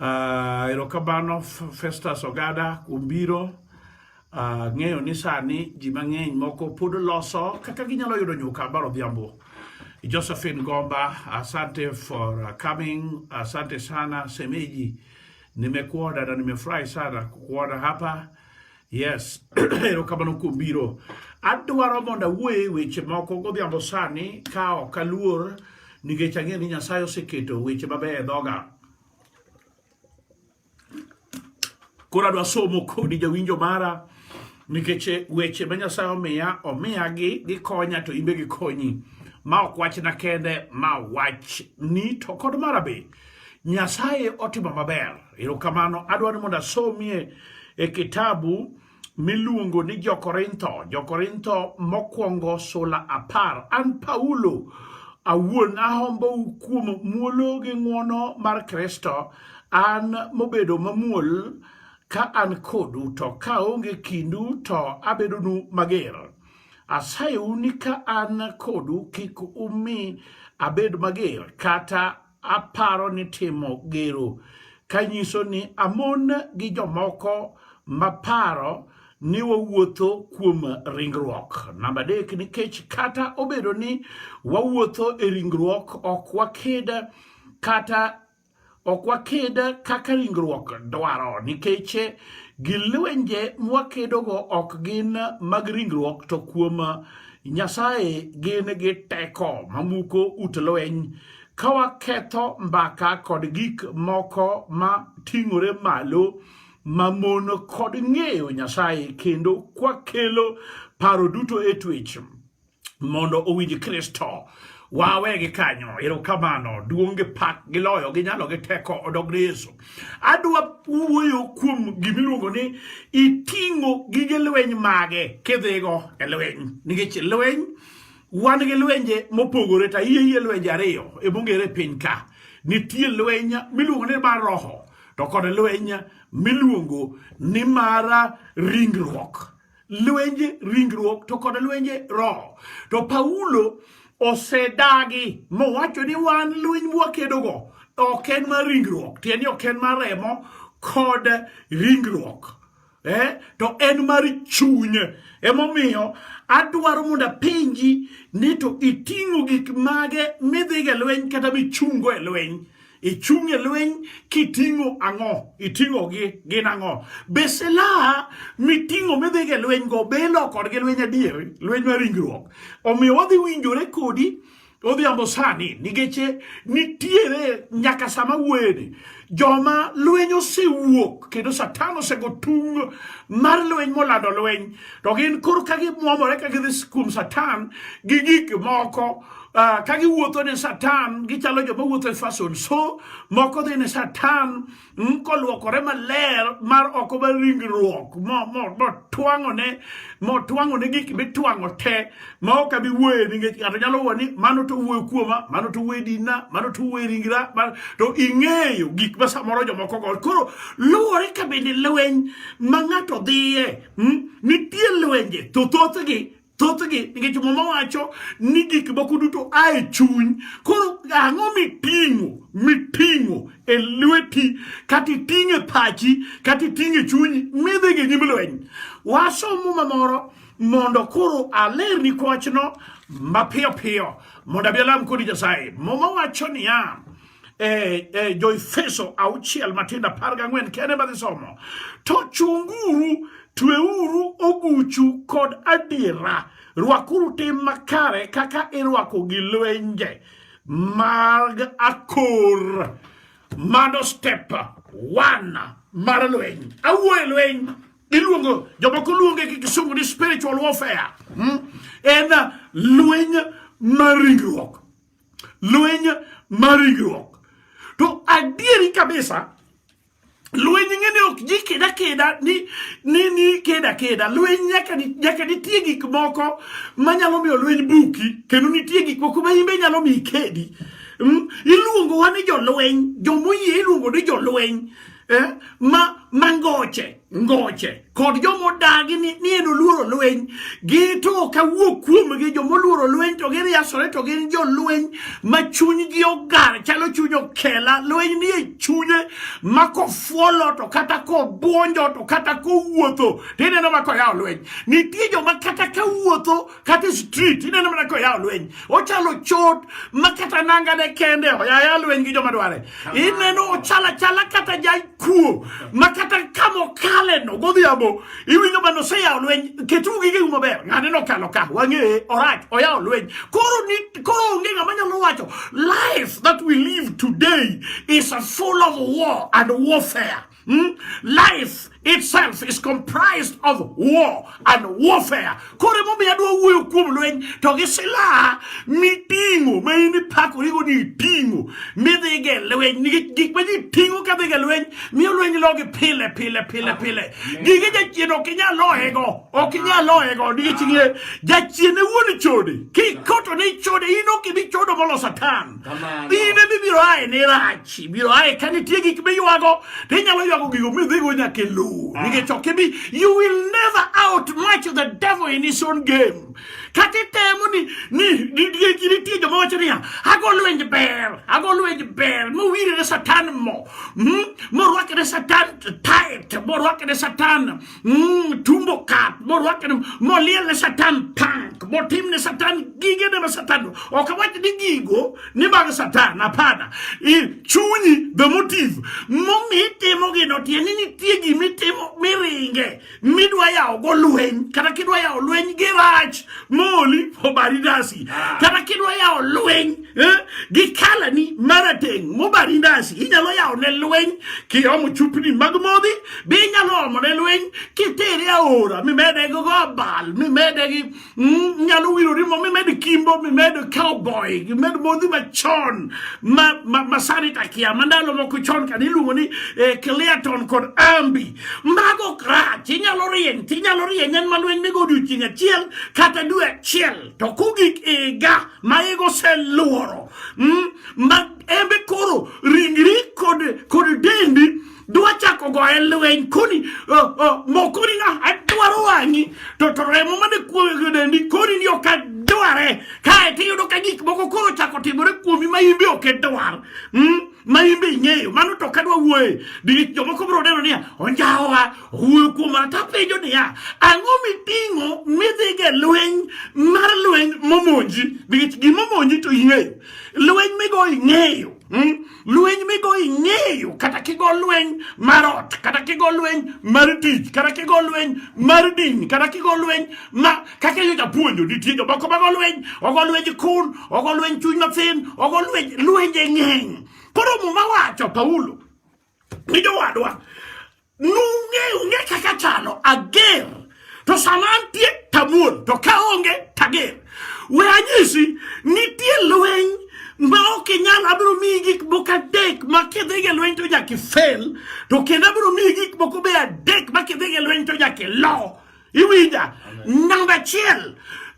Uh, erokamano Festus Ogada kuom biro uh, ng'eyo ni sani ji mang'eny moko pod loso kaka ginyalo yudo nyuka mar odhiambo. Josephine Gomba, asante for uh, coming, asante sana semeji, nimekuona na nimefurahi sana kukuona hapa. Yes, erokamano kuom biro. Adwaro mondo awuoye weche moko godhiambo sani ka ok aluor nikech ang'eyo ni Nyasaye oseketo weche mabeyo e dhoga. Koro adwa somo kodi jawinjo mara nikech weche ma Nyasaye omiya omiya gi gikonya to imbe gikonyi. Ma ok wachna kende, ma wach ni to kod mara be. Nyasaye otimo maber. Erokamano. Adwa ni mondo asomie e kitabu miluongo ni Jokorintho, Jokorintho mokwongo sula apar. An Paulo awuon ahombou kuom muolo gi ng'wono mar Kristo, an mobedo mamuol ka an kodu, to kaonge kindu to abedonu mager. Asayou ni ka an kodu kik umi abed mager kata aparo ni timo gero kanyiso ni amon gi jomoko maparo ni wawuotho kuom ringruok. Namba adek, nikech kata obedo ni wawuotho e ringruok ok wakeda kata Ok waked kaka ringruok dwaro nikech gi lwenje mwakedogo ok gin mag ringruok to kuom Nyasaye gin gi teko mamuko ut lweny ka waketho mbaka kod gik moko ma ting'ore malo mamon kod ng'eyo Nyasaye kendo kwakelo paro duto e twech. mondo owinj Kristo wawe gi kanyo erokamano duong' gi pak gi loyo gi nyalo gi teko odog ne Yesu adwa wuoyo kuom gimiluongo ni iting'o gige lweny mage kidhigo e lweny nikech lweny wan gi lwenje mopogore ta iye iye lwenje ariyo e mongere piny ka nitie lweny miluongo ni mar roho to kod lweny miluongo ni mara ringruok lwenje ringruok to kod lwenje roho to paulo osedagi mowacho ni wan lweny mwakedogo ok en mar ringruok tieni ok en mar remo kod ringruok eh? to en mar chuny emomiyo adwaro mondo apenji ni to iting'o gik mage midhigo e lweny kata michungo e lweny ichung' e lweny kiting'o ang'o iting'o gi gin ang'o be silaha miting'o midhigo e lweny go be ilo kodgi lweny adier lweny mar ringruok omiyo wadhi winjore kodi odhiambo sani nikech nitiere nyaka sama wuoyeni joma lweny osewuok kendo satan osego tung mar lweny molando lweny to gin kor ka gimwomore ka gidhi kuom satan gi gik moko Uh, ka giwuotho ne satan gichalo joma wuotho e fason so moko dhi ne satan mm, kolwokore maler mar oko mar ringruok motwang'one motwang'one gik mitwang'o te ma ok abi wuoye nikech ng'ato nyalo wuo ni mano to wuoyo kuoma mano to wuoye dina mano to wuoye ringra to ing'eyo gik ma samoro jomoko go koro luwore ka bende lweny ma ng'ato dhiye mm, nitie lwenje to thothgi thothgi nikech muma wacho ni gik moko duto a e chuny koro ang'o miting'o miting'o e lweti kata iting'o e pachi kata iting'o e chunyi midhi gi nyim lweny wasom muma moro mondo koro alerni kwachno mapiyo piyo mondo abi alam kodi nyasaye muma wacho niya e, e, Joefeso auchiel matindo apar gang'wen kene madhi somo to chunguru tweuru oguchu kod adiera rwakuru tim makare kaka irwako gi lwenje mag akor mano step one mar lweny awuoye lweny iluongo jomoko luonge gi kisungu ni spiritual warfare hmm? en lweny mar ringruok lweny mar ringruok to adieri kabisa lweny ng'e ni ok ji keda keda ni ni ni keda keda lweny nyaka ni nyaka nitie gik moko manyalo miyo lweny buki kendo nitie gik moko ma imbe nyalo miyi kedi mm? iluongo wa ni jolweny jomoyie iluongo ni jolweny eh, ma mangoche ngoche kod joma odagi ni, ni en oluoro lweny gito kawuok kuomgi joma oluoro lweny to giriasore to gin jolweny ma chunygi ogar chalo chuny okela lweny nie chunye ma kofuolo to kata kobwonjo to kata kowuotho tineno ma koyawo lweny nitie joma kata kawuotho kata e street ineno mana koyawo lweny ochalo chot ma kata nanga ne kende oyaya lweny gi joma dware ineno ochala chala kata jaikuo ma kata kama okale no godhiambo iwinjo mana oseyawo lweny ketu gige u maber ng'ane nokalo ka wang'eye orach oyawo lweny koro ni koro onge ng'ama nyalo wacho life that we live today is full of war and warfare Hmm? Life itself is comprised of war and warfare. Koro emomiyo adwa wuoyo kuom lweny to gi silaha miting'o ma in ipakorigo ni iting'o midhiga e lweny nikech gik ma ji ting'o ka dhiga e lweny miyo lweny logi pile pile pile pile. Gige jachien ok inyal loyego ok inyal loyego nikech jachien e wuon chode kikoto ne chode in ok ibi chodo molo satan. in ema ibiro aye ni rach ibiro aye ka nitie gik miywago to inyalo ywago gigo midhigo nyaka e lowo ah. nikech ok ibi you will never out match the devil in his own game kata itemo ni nitie joma wacho niya ago lwenj ber ago lwenj ber mowirre satan mo hmm? morwakre satan tit morwakre satan Mm, tumbo kat morwake moliel ne satan tank motim ne satan gige ne ma satan ok awach ni gigo ni mag satan apana chunyi the motive momi itimo gino tieni nitie gima itimo miringe midwa yawo go lweny kata kidwa yawo lweny gi rach moli obari ndasi kata kidwa yawo lweny eh, gi kalani marateng' mobari ndasi inyalo yawo ne lweny kiomo chupni mag modhi Be inyalo omo ne lweny kitere aora mimede gi gobal mimede gi mm, nyalo wiro rimo mimed kimbo mimed cowboy mimed modhi machon masani takia ma ndalo moko chon kane iluongo ni eh, cleaton kod ambi mago krach inyalo rieny tinyalo rieny en ma lweny migo odiochieng' achiel kata dwe achiel to kugik iga ma igo seluoro mm, ma embe koro ringri kod dendi dwa chako goye lweny koni mokoni na adwaro wang'i to to remo mane kuoyo dendi koni ni ok adware kae to iyudo ka gik moko koro chako timore kuomi ma in be ok idwar hmm? ma in be ing'eyo mano to kadwa wuoye nikech jomoko biro neno niya onjawa owuoyo kuoma to apenjo niya ang'o miting'o midhiga e lweny mar lweny momonji nikech gimomonji to ing'eyo lweny migo ing'eyo hmm? Lweny migo ing'eyo kata kigo lweny mar ot kata kigo lweny mar tich kata kigo lweny mar din kata kigo lweny ma kaka yo japuonjo nitie jomoko mago lweny ogo lweny kun ogo lweny chuny mathin ogo lweny lwenje ng'eny koro muma wacho Paulo ni jowadwa Nung'eyo ung'e kaka chalo ager to sama antie tabuon to ka onge tager. We anyisi nitie lweny ma ok inyal abiro miyi gik moko adek ma kidhiga lweny to nyaka ifel to kendo abiro miyi gik moko be adek ma kidhiga lweny to nyaka ilo. Iwinja? Namba achiel,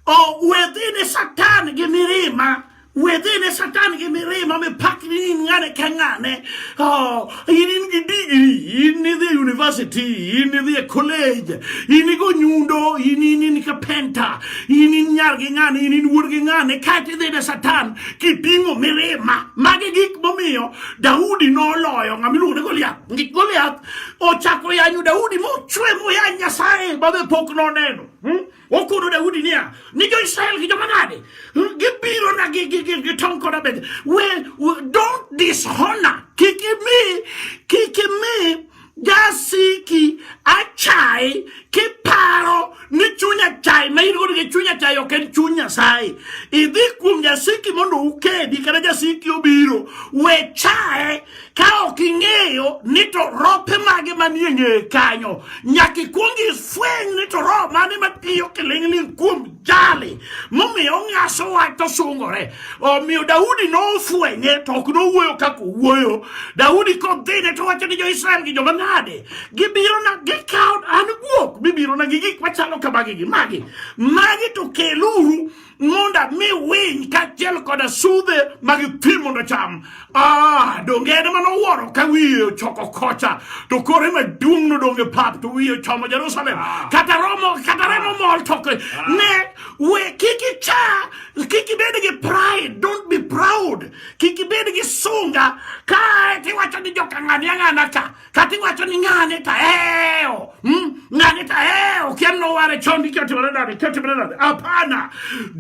oh, wedhine Satan gi mirima within a satanic mirima mipakni in ng'ane ka ng'ane oh, in in gi digri in idhi university in idhi e college in igo nyundo in in in ka penta in in nyar gi ng'ane in in wuod gi ng'ane kaeto idhi ne satan kiting'o mirima magi gik momiyo daudi noloyo ng'ama iluongo ni goliath gik goliath ochakore yanyo Daudi mochwe muya Nyasaye mabe pok noneno hmm? okono Daudi niya ni jo Israel gi joma nade hmm? gibiro na gi gi gi gitong koda bende we, we don't dishonor kik imi kik imi jasiki achai kiparo ni chuny achai ma in godo gi chuny achai ok en chuny Nyasaye idhi kuom jasiki mondo ukedi kata jasiki obiro we chaye ka ok ing'eyo ni to rope mage manie ng'eye kanyo nyaka ikwong ifweny ni to roho mane matiyo kiling'ling kuom jali momiyo ong'aso wach to sungore omiyo daudi nofwenye to ok nowuoyo kaka owuoyo daudi kodhine to wacho ni jo-israel gi joma nade gibirona gikawo an guok bibirona gi gik machalo kamagi gi magi magi to keluru mondo mi winy kaachiel koda sudhe ma gitwi mondo cham ah, donge en mano wuoro ka wiye ochoko kocha to kore maduong' nodonge pap to wiye ochomo jerusalem ah. kata romo kata remo mol toke ah. ne we kik icha kik ibed gi pride don't be proud kik ibed gi sunga kae tiwacho ni jokang'ani ang'ana ka kata iwacho ni ng'ane to ahewo hmm? ng'ane to ahewo kia noware chon gi kiotimore nade kiotimore nade hapana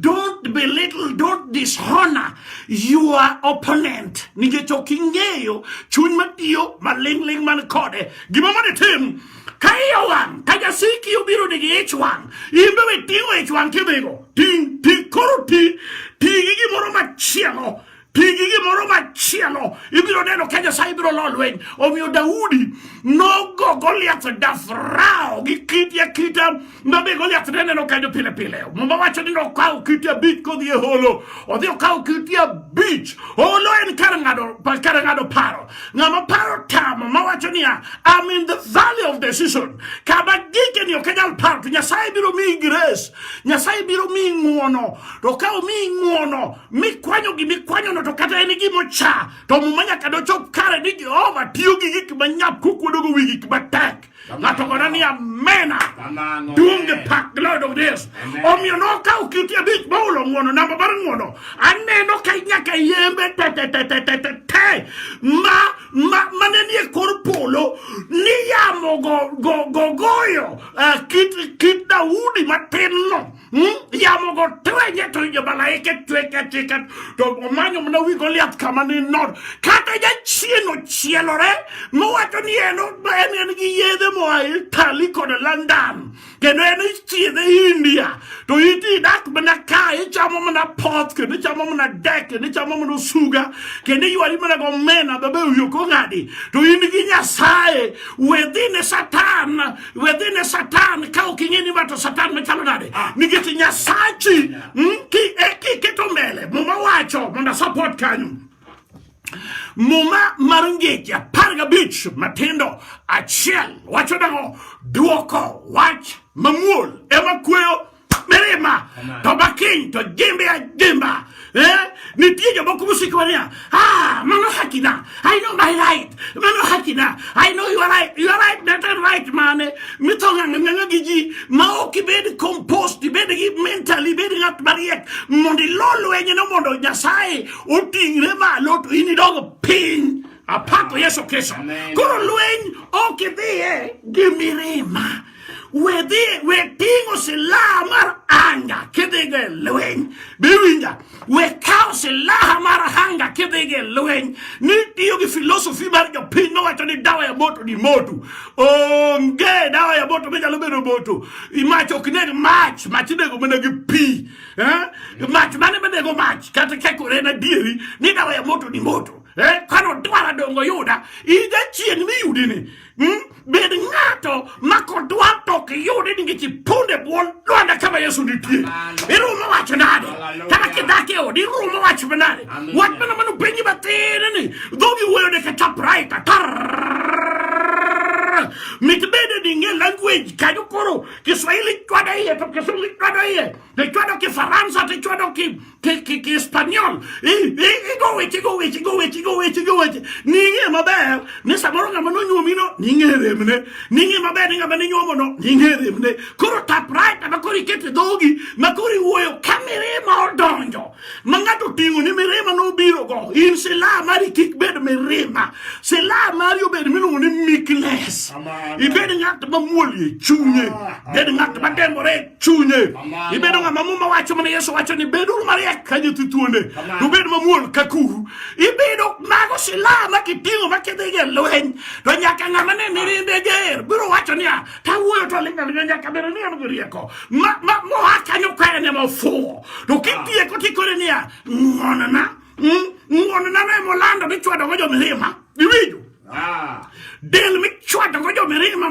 don't belittle don't dishonor your opponent nikech ok ing'eyo chuny matiyo maling'ling man kode gima mondo itim ka iye wang' ka jasiki obiro nigi ich wang' in be we ting'o ich wang' kidhigo ting' ting' koro ti ti gi gimoro machielo Pigi gimoro machielo ibiro neno ka Nyasaye biro lo lweny. Omiyo Daudi nogo Goliath dafrao gi kite akita ma be Goliath ne neno kanyo pile pile. Muma wacho ni nokawo kite abich kodhi e holo. Odhi okawo kite abich. Holo en kar ng'ado kar ng'ado paro. Ng'ama paro tamo ma wacho niya I'm in the valley of decision. Kama gike ni ok anyal paro to Nyasaye biro miyi grace. Nyasaye biro miyi ng'uono. To ka omiyi ng'uono mikwanyo gi mikwanyono to kata en gima ocha to muma nyaka dochop kare ni jehova tiyo gi gik manyap kokwedogo wi gik matek ng'ato kona ni amena duonge pak glory to this omiyo nokawo kiti abich moulo ng'wono namba mar ng'wono aneno ka nyaka yembe tetetetetete ma ma mane nie kor polo ni yamo go go goyo eh, kit kit daudi matin no Hmm? Yamo go twenye to injo malaike tweka tweka to omanyo mna wi Goliath kama ni nod kata ja chieno chielore mowacho ni en en en gi yedhe moa Italy kod London kendo en ichiedhe India to iti dak mana ka ichamo mana pot kendo ichamo mana dek kendo ichamo mana suga kendo iywari mana go mena babe uyo kong'adi to in gi Nyasaye wedhi ne Satan wedhine satan ka ok ing'e ni ma to satan machalo nade ah. nikech nyasachi hmm, e, kiketo mbele muma wacho mondo support kanyo muma mar ngeche apar gabich matindo achiel wacho nang'o dwoko wach mamuol ema kweyo mirima to bakiny to jimbe ajimba eh? nitie jomoko mosikowa niya ah, mano hakina i know my right mano hakina i know your right your right that and right mane mithong'ang'ang'a gi ji ma ok ibed compost ibed gi mental ibed ng'at mariek mondo ilo lwenyno mondo nyasaye oting're malo to in idog piny apako yesu kristo koro lweny ok idhiye gi mirima wedhi we ting'o silaha mar anga kidhigo e lweny biwinja we kawo silaha mar anga kidhigo e lweny ni tiyo gi filosofi mar jopiny mawacho ni dawa ya moto ni moto onge dawa ya moto minyalo bedo moto mach ok neg mach mach inego mana gi pi eh? mach mane manego mach kata kekore na dieri ni dawa ya moto ni moto eh? kano dwara dongo yuda ija chieng' miyudini Hmm? Bed ng'ato ma kodwa to ok yudi nikech iponde bwon lwanda kama Yesu nitie. Irumo wach nade? Kata kidak e odi irumo wach nade? Wach mana mano penji matin ni dhogi wuoyo deka chaprait mitbede dinge language kanyo koro Kiswahili chwada iye to Kisungu chwada iye Ichwado Kifaransa to ichwado Kihispaniol. Igo weche, igo weche, igo weche, igo weche, igo weche. Ning'e maber ni samoro ng'ama nonyuomino ning'e remne. Ning'e maber ni ng'ama ninyuomono ning'e remne. Koro typewriter ma koro ikete dhogi ma koro iwuoyo ka mirima odonjo ma ng'ato oting'o ni mirima nobirogo. In silaha mari kik bed mirima. Silaha mari obed miluongo ni meekness. Ibed ng'at mamuol e chunye. Ah, Bed ng'at madembore chunye ibedo ng'ama muma wacho mana yesu wacho ni beduru mariek ka nyithi thuonde to bed mamuol ka kuru ibedo mago silaha ma kiting'o ma kidhigo e lweny to nyaka ng'ama ne mirimbe ger biro wacho niya tawuoyo to ling'aling'a nyaka bedo ni an gi rieko moa kanyo ka en ema ofuwo to kitieko tikore niya ng'onona hmm? ng'onona ne molando michwadogo jomilima iwinjo del michwado go jomirima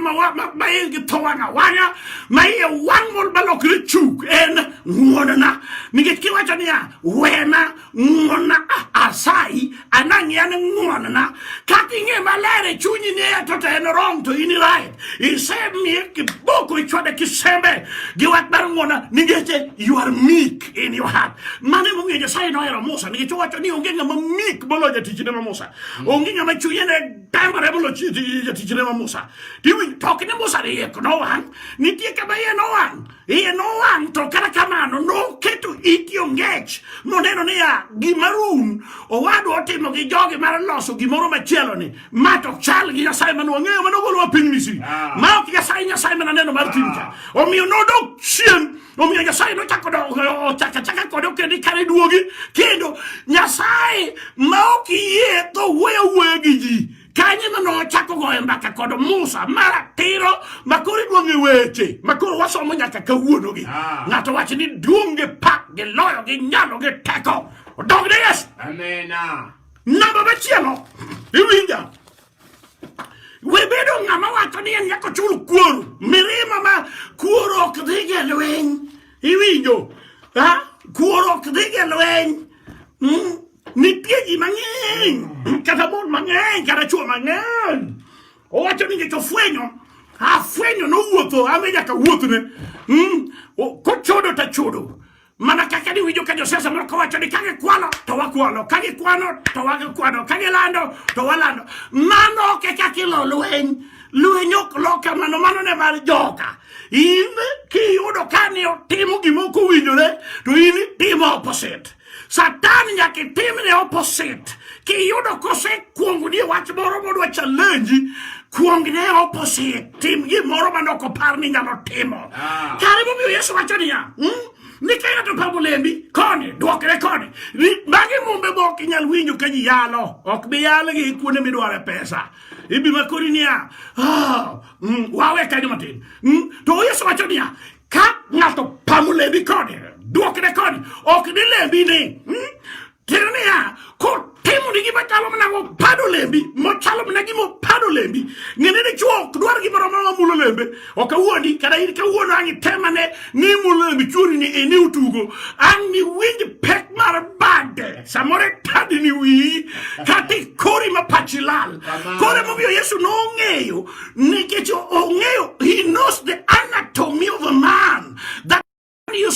maigi tho wang' awang'a ma iye wang' mol balokre chuk en ng'wonona nikech kiwacho niya wena ng'wonna asayi anang'i an ng'wonna kata ing'e maler e chunyi ni eto to en wrong to in right isemiye kiboko ichwade kisembe gi wach mar ng'wonna nikech you are meek in your heart mano emomiyo nyasaye nohero musa nikech owacho ni onge ng'ama meek moloyo jatichne ma musa Hmm. Onge ng'ama chunye ne tamore bolo jatichne ma Musa. Tiwinj tok ni Musa ne iye nowang', nitie kama iye nowang', iye nowang' to kata kamano noketo iti ongech moneno niya gima rum owadwa otimo gi jogi mar loso gimoro machielo ni ma to chal gi Nyasaye mane wang'eyo mane ogolowa piny Misri ah. ma ok Nyasaye Nyasaye mane aneno mar timcha ah. omiyo nodok chien Omiyo Nyasaye nochako chaka chaka kode okende kare duogi kendo Nyasaye ma ok yie to wuoyo wuoyo gi ji kanye ma nochako goyo mbaka kod Musa maratiro makoro iduong'e weche makoro wasomo nyaka kawuono gi ah. ng'ato wacho ni duong' gi pak gi loyo gi nyalo gi teko odog ne Yesu. Amina. Namba machielo iwinja We bedo ng'ama wacho ni en nyaka ochul kuoro, mirima ma kuoro ok dhi gi lweny. Iwinjo? Ha? Kuoro ok dhi gi lweny. Mm? Nitie ji mang'eny, kata mon mang'eny, kata chwo mang'eny. Owacho ni ngeche ofwenyo, afwenyo nowuotho, ame nyaka wuothne. Mm? Kochodo tachodo. mana kaka niwinjo ka josiasa moko wacho ni ka gikwalo to wakwalo ka gikwano to wakwano ka gilando to walando mano ok e kaka ilo lweny lweny ok lo kamano mano ne mar joka in kiyudo ka ni otimo gima ok owinjore to in itimo opposite satan nyaka itimne opposite kiyudo kosekuongoni e wach moro modwa challenge Kuong ne opposite, tim gimoro ma nok opar ni nyalo timo. Ah. Kare momiyo Yesu wacho niya, hmm? ni ka ng'ato pamo lembi koni dwokre koni magi mumbe ma ok inyal winjo ka ji yalo ok bi yalgi kuonde midware pesa ibi makori niya ah, mm, wawe kanyo matin mm, to yesu wacho niya ka ng'ato pamo lembi koni dwokre koni ok ni lembi ni mm, Tiende niya, kotimo ni gima chalo mana mopado lembi, mochalo mana gima opado lembi, ng'ene ni chuo ok dwar gimoro ma mulo lembe, ok awuondi, kata in kawuono ang' itemane ni mulo lembi chuori ni ini utugo, ang' ni winj pek mar bade, samoro itadi ni wiyi, kata ikori ma pachi lal. Koro emomiyo Yesu nong'eyo, nikech ong'eyo, he knows the anatomy of a man. That you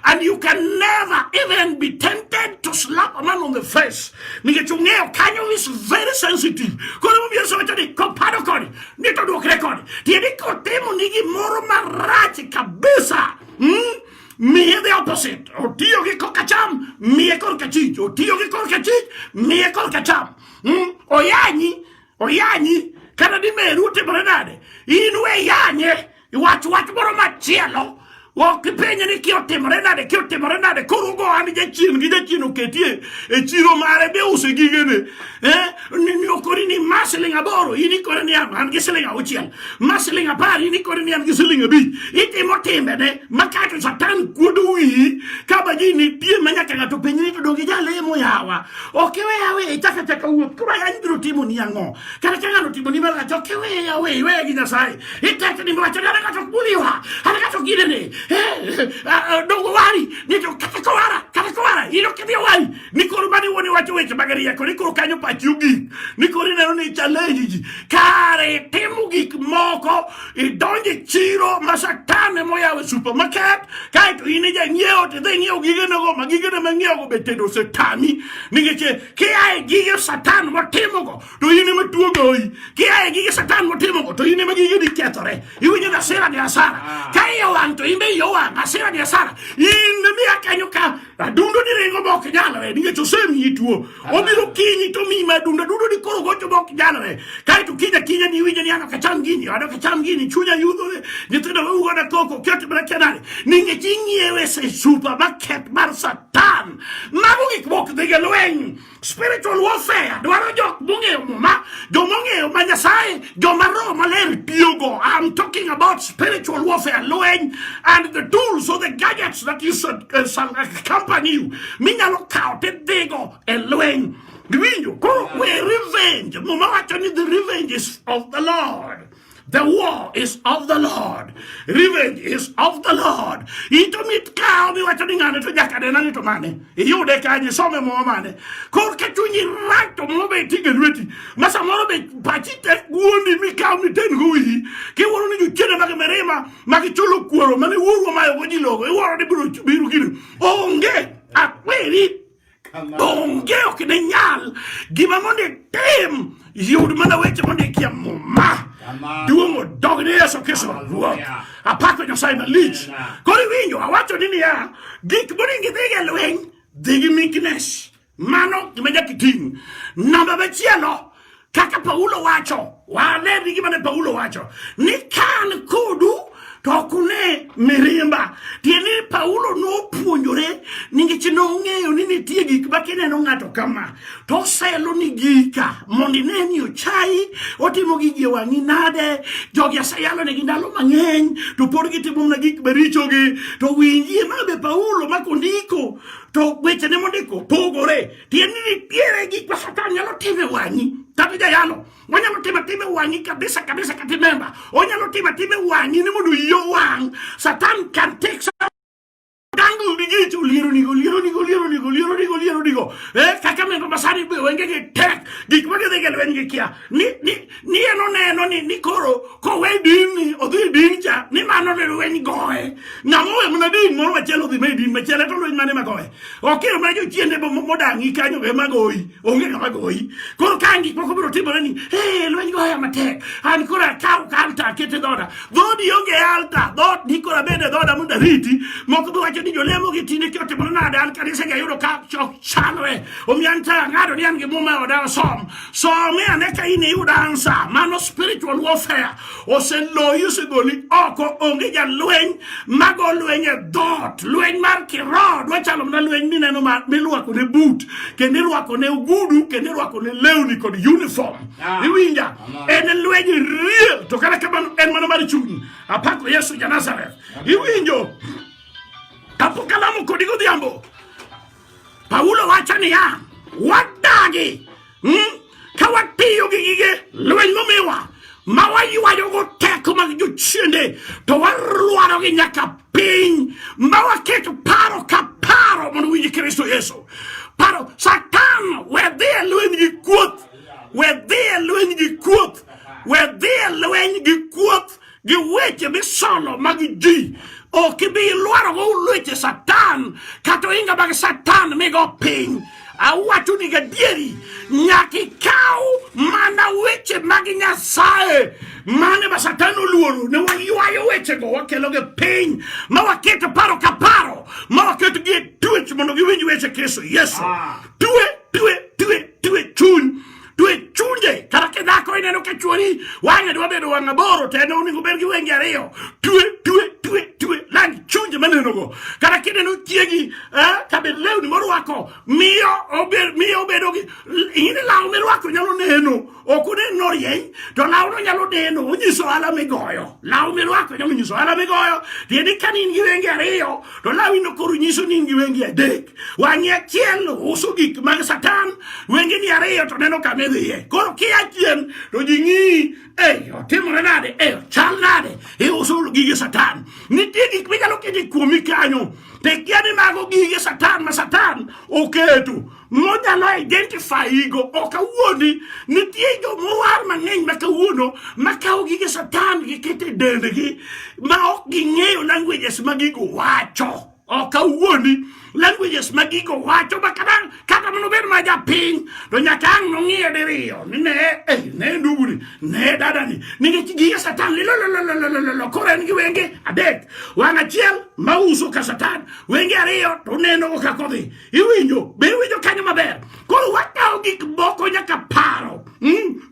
and you can never even be tempted to slap a man on the face nikech ung'eyo kanyo is very sensitive koro mobiro sowacho ni kopado koni ni to duokre koni tiende kotimo ni gimoro marach kabisa mm? miye the opposite otiyo gi korka cham miye korka chich otiyo gi korka chich miye korka cham mm? oyanyi Oyanyi kata ni meru otimore nade, in we yanye iwach wach moro machielo ok ipenje ni ki otimore nade ki otimore nade koro go an jachien gi jachien oketie e chiro mare be use gigene eh ni okori ni ma siling aboro in ikore ni an gi siling auchiel ma siling apar in ikore ni an gi siling abich itimo timbene ma kato satan kuodo wiyi ka ba ji nitie ma nyaka ng'ato penj ni to donge jalemo yawa Ok we awe itaka taka uwe kuma ya ndiro timu ni yango. Kana kana no timu ni mara to ke we awe we gi na sai. Itaka ni mara chana ka to kuliwa. Hana ka to gire ne. Eh no wari ni to kata ko ara kata ko ara ino ke dia wari. Ni ko rubani woni wacho we ke bagari ya ko ni ko kanyo pa chugi. Ni ko ri ne ni challenge. Kare timu gik moko idonj e chiro ma satane moyaw e supermarket kaeto in ija nyiewo to idhi nyiewo gigenego ma gigene ma ng'iewogo be tedo osetami nikech eh, kia e gige satan motimogo to in ema tuo goyi kia e gige satan motimogo to in ema gigeni kethore iwinjo ni asira gi asara ah. ka iye owang' to in be iye owang' asira gi asara in miya kanyo ka adundo ni ringo bok nyalre nikech osemiyi tuo ah. obiro kinyi to miyi ma adundo adundo ni koro gocho bok nyalre kaeto kinya kinya ni iwinjo ni an ok acham gini an ok acham gini chunya yudhore nyithindo wewu goda koko ket mana kenani nikech ing'iewe e supermarket mar satan mago gik mok dhiga lweny Spiritual warfare dwaro jok mong'eyo muma, jomong'eyo ma Nyasaye, joma roho maler tiyogo. I'm talking about spiritual warfare, lweny and the tools or the gadgets that you should uh, shall accompany you. Minyalo kawo tidhigo e lweny. Giwinjo? Koro we revenge. Muma wacho ni the revenge is of the Lord. The war is of the Lord. Revenge is of the Lord. Ito mit kao mi wacho ni ng'ane to nyaka nena ni to mane. Iyude kanye some mwa mane. Kor ka chunyi rak to mwa be tige lweti. Ma samoro be pachi te guondi mi kao mi ten gui. Ki woro ni juchene magi merima. Magi chulo kuoro. Mani wuro mayo goji logo. Iworo ni biro biru gini. Onge. Akweri. Onge ok ne nyal gima mondo itim yud mana weche mondo ikia muma duong' odog ni Yesu Kristo Ruoth. Apako Nyasaye malich. Koro iwinjo awacho ni niya, gik monego idhi e lweny dhi gi meekness. Mano gima nyaka iting'. Namba machielo kaka Paulo wacho, wane ni gima ne Paulo wacho ni kan kodu to ok une mirimba. Tiende ni Paulo nopuonjore nikech nong'eyo ni nitie gik ma kineno ng'ato kama to oselo ni gika mondo ine ni ochayi otimo gigi e wang'i nade. Jogi aseyalonegi ndalo mang'eny to pod gitimo mana gik marichogi to winjie ma be Paulo ma kondiko to wechene mondiko pogore. tieni nitiere gik ma satan nyalo timo e wang'i kata jayalo onyalo timo atima e wang'i kabisa kabisa kata memba onyalo timo atima e wang'i ni mondo iyo wang' satan can take some tango ligeti uliero nigo liero nigo liero nigo liero nigo liero nigo eh kaka mendo masani be wenge ge tek gik ma gidhi gel wenge kia ni ni ni eno neno ni ni koro ko we din ni odhi din cha ni mano ne weny goe ngamo we mna din moro achiel odhi me din machielo to lweny mane magoe ok ero mana jochiende modang'i kanyo be magoyi onge ng'ama goyi koro ka gik moko biro timore ni e lweny goya matek an koro akaw ka alta akete dhoda dhodi onge alta dhot ni koro abede dhoda mondo ariti moko biwacho ni jolemo gi tinde kiote mondo nade an kanisa gi ayudo ka chok chalre omiyo an ta ang'ado ni an gi muma e oda osom some ane ka in iyud ansa mano spiritual warfare oseloyi osegoli oko onge jalweny mago lweny e dhoot lweny mar kiroho dwa chalo mana lweny mineno milwako ne but kendo irwako ne ogudu kendo irwako ne lewni kod uniform ah. iwinja en lweny real to kata kamano en mana mar chuny apako yesu ja nazareth iwinjo apokalamo kodi godhiambo Paulo wacho niya, wadagi hmm? ka watiyo gi gige lweny momiwa ma waywayogo teko mag jochiende to warwarogi nyaka piny ma waketo paro ka paro mondo winj Kristo Yesu. Paro Satan we dhi e lweny gi kuoth, we dhi e lweny gi kuoth, we dhi e lweny gi kuoth. gi weche misolo mag ji ok ibi ilwarogo ulweche satan kata ohinga mag satan migo piny awacho ni gadieri nyaka ikaw mana weche mag nyasaye mane ma satan oluoro ne waywayo wechego wakelogi piny ma waketo paro ka paro ma waketogi e tuech mondo giwinj weche kristo yesu ah. tue tue tue tue chuny to e chunje kata ka dhako ineno ka chuori wang'e dwa bedo wang' aboro to en onego bed gi wenge ariyo twe twe twe twe lang chunje manenogo kata kineno chiegi eh, kabed lewni morwako miyo obed miyo obedo gi ing'eni law mirwako nyalo neno ok onen norieny to lawno nyalo neno onyiso ohala migoyo law mirwako nyalo nyiso ohala migoyo tiende ka ni in gi wenge ariyo to lawino koro nyiso ni in gi wenge adek Wang'i achiel uso gik mag Satan, wengeni ariyo to neno kama idhiye. Koro kia chien to ji ng'iyi, eh, otimore nade? Eh, chal nade? Iuso gige Satan. Nitie gik minyalo kete kuomi kanyo. Te kia ni mago gige Satan ma Satan oketo. Monyalo identify go ok awuondi. Nitie jo mowar mang'eny ma kawuono ma kawo gige Satan gikete dendgi ma ok ging'eyo languages ma gigo wacho. ok awuondi languages ma gigo wacho ma kata kata mondo obed ma japiny to nyaka ang' nong'iye diriyo ni ne eh, ne nduguni ne dadani nikech gige satan lilolololololo koro en gi wenge adek wang' achiel ma uso ka satan wenge ariyo to nenogo kaka odhi iwinjo be iwinjo kanyo maber koro wakawo gik moko nyaka paro hmm?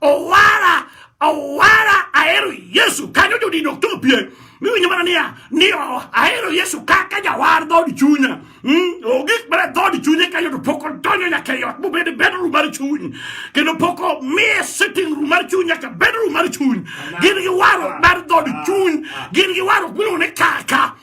owara owara ahero yesu kanyo jodin ok chopie miwinjo mana niya ni ahero yesu kaka jawar dhood chunya hmm? ogik mana dhood chunye kanyo to pok odonjo nyaka ei ot mobed e bedroom mar chuny kendo pok omiye sitting room mar chuny nyaka bedroom mar chuny gin gi warruok mar dhood chuny gin gi warruok miluongo ni kaka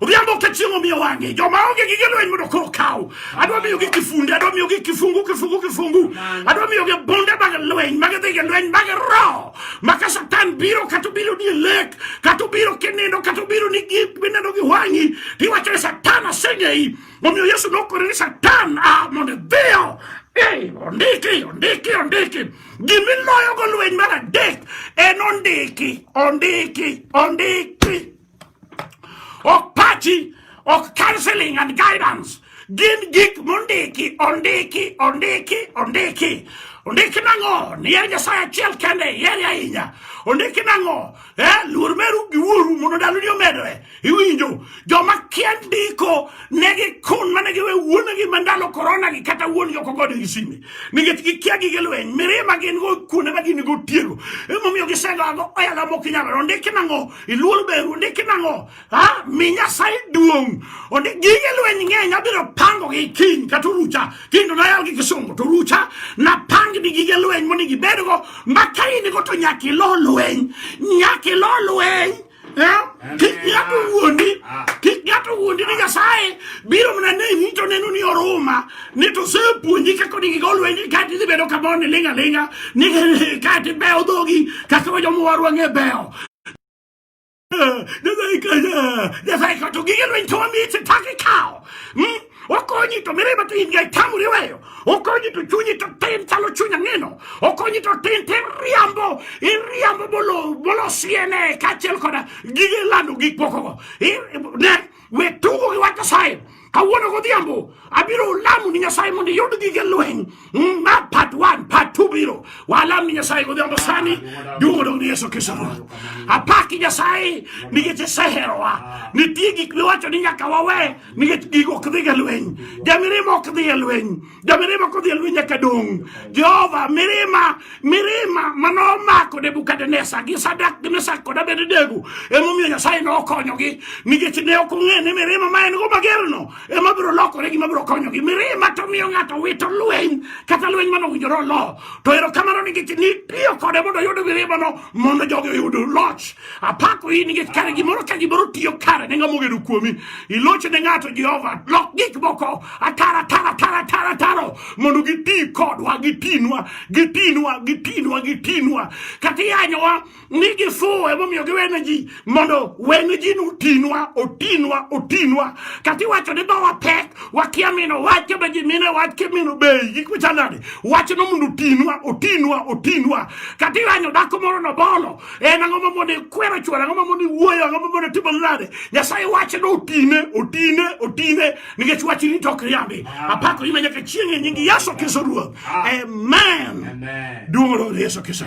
Odhiambo ka chieng' omiyo wang'e, joma onge gige lweny mondo koro kaw. Adwa miyogi kifunde, adwa miyogi kifungu, kifungu, kifungu. Adwa miyogi bunde mag lweny, mag dhi gi lweny, mag roho. Ma ka Satan biro, kata obiro ni lek, kata obiro kinindo, kata obiro ni gik mineno gi wang'i, tiwacho ni Satan aseng'eyi. Omiyo Yesu nokore ni Satan, ah, mondo idhiyo Ei, ondiki, ondiki, ondiki. Gimiloyogo lweny mar adek en ondiki, ondiki, ondiki. ok pachi ok counseling and guidance gin gik mondiki ondiki ondiki ondiki ondiki nang'o nier nyasaye achiel kende ihere ahinya ondiki nang'o eh, luor meru gi wuoru mondo ndaloni omedoe iwinjo joma kia ndiko ne gikun mane giwe wuonegi ma ndalo korona gi kata wuongi ok ogode gi sime nikech gikia gige lweny mirima gin go kuonde ma gin go tiego emomiyo gisengago oyala mok inyalo ondiki nang'o iluor beru ndiki nang'o ha mi nyasaye duong' ondi gige lweny ng'eny abiro pango gi kiny kata orucha kendo nayal gi kisungu to orucha napang ni gige lweny mondo gibedgo ma ka in go to nyaka ilo lweny nyaka ilo lweny kik ng'ato wuondi kik ng'ato wuondi ni nyasaye biro mana ne to neno ni oruma ni to se puonji kaka ni gigo lwenji ka ti bedo ka mon linga linga ni ka ti beo dogi kaka wa jomo warwa nge beo Nyasaye kaya, Nyasaye kato gige lwenji to wami se taki kao. Hmm? Okonyi to mireba to in gai tamu riweyo. Okonyi to chunyi to ten chalo chunya ngeno. Okonyi to ten ten riambo, in riambo bolo, bolo siene, kachel koda gige lando gik pokogo. Ne, We tugo gi wach Nyasaye. Kawuono godhiambo abiro lamo ni Nyasaye mondo iyud gige lweny. Mm, ma part 1, part 2 biro. Walam ni Nyasaye godhiambo sani duogo dong ni Yesu Kristo Ruoth. Apaki Nyasaye nikech iseherowa. Nitie gik miwacho ni nyaka wawe nikech gigo ok dhi ga lweny. Jamirimo ok dhi e lweny. Jamirima kodhi e lweny nyaka dong'. Jehova, mirima, mirima mane omako Nebukadneza gi Sadak gi Mesak kod Abednego emomiyo Nyasaye ne okonyogi nikech ne ok ong'e ni mirima ma en go magerno ema biro lokore gima biro konyogi. Mirima to miyo ng'ato wito lweny kata lweny mane owinjore olo. To erokamano nikech nitiyo kode mondo oyud mirimano mondo jogi oyud loch Apako in nikech kare gimoro ka gimoro tiyo kare ne ng'ama ogedo kuomi. Ilocho ne ng'ato Jehova. Lok gik moko atara tara tara tara taro mondo giti kodwa gitinwa gitinwa gitinwa gitinwa kata iyanyowa ni gifuwo emomiyo giwene ji mondo wene ji ni otinwa otinwa otinwa kata iwacho ni dhowa pek wakia mino wach kama ji mine wach kimino bei gik machanade wachno mondo otinwa otinwa otinwa kata iyanyo dhako moro nobolo En ang'o ma mondo ikwero chwore? Ang'o ma mondo iwuoyo? Ang'o ma mondo itimo nade? Nyasaye wache ni otine, otine, otine nikech wachi ni tok riambi. Apako ime nyaka chieng' e nying Yesu Kristo Ruoth. Amen. Duong' Ruoth Yesu Kristo.